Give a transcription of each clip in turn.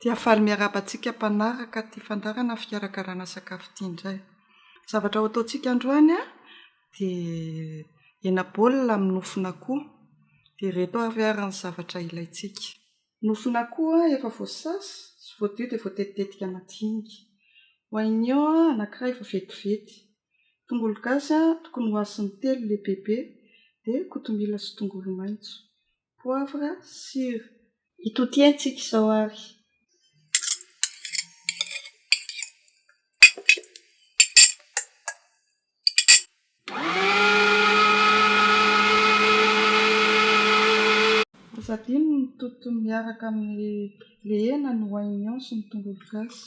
Dia faly miarahaba antsika mpanaraka ity fandaharana fikarakarana sakafo ity indray. Zavatra ho ataontsika androany dia hena baolina amin'ny nofon'akoho. Dia ireto avy ary ny zavatra ilaintsika. Nofon'akoho efa voasasa sy voadio dia voatetitetika madinika. Oignon anankiray efa vetivety. Tongolo gasy tokony ho asiny telo lehibebe dia kotomila sy tongolo maitso. Poivre sur. Itotiantsika izao ary. Aza adino ny mitoto miaraka amin'ny le hena, ny oignon sy ny tongolo gasy.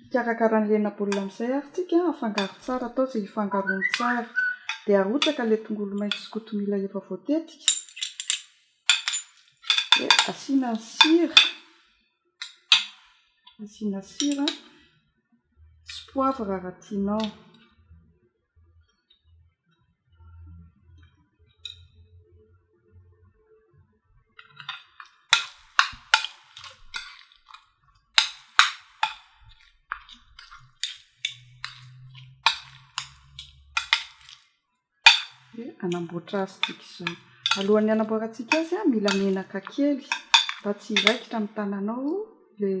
Mikarakara ny hena baolina amin'izay ary tsika, afangaro tsara atao izay hifangaroany tsara dia arotsaka ilay tongolo maitso sy kotomila efa voatetika dia asiana ny sira, asiana sira sy poivre raha tianao. hanamboatra azy tsika izao alohan'ny hanamboarantsika azy a mila menaka kely mba tsy hiraikitra amin'ny tananao ilay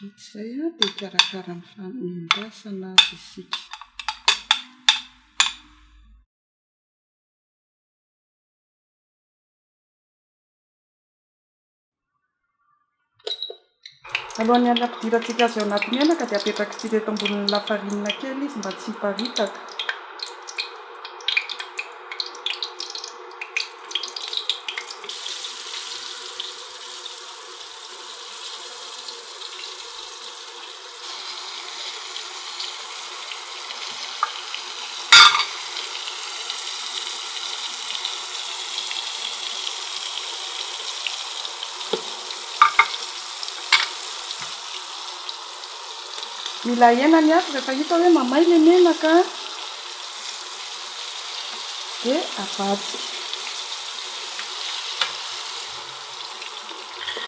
Vita izay dia hikarakara ny fanendasana azy isika. Alohan'ny hanampidirantsika azy ao anaty menaka dia apetrakitsika eto ambonin'ny lafarinina kely izy mba tsy hiparitaka. Mila ahena ny afo rehefa hita hoe mamay ilay menaka dia avadika.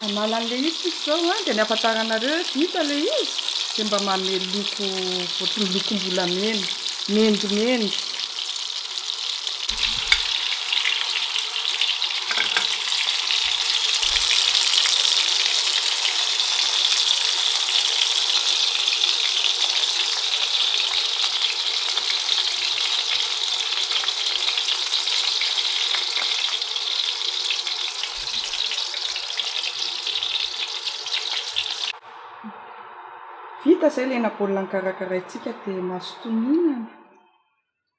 Manala an'ilay izy tsika izao a, dia ny ahafantaranareo hoe vita ilay izy dia mba manome loko ohatry ny lokom-bolamena, mendimendy. Vita izay ilay na baolina nokarakaraintsika dia mazotoa mihinana.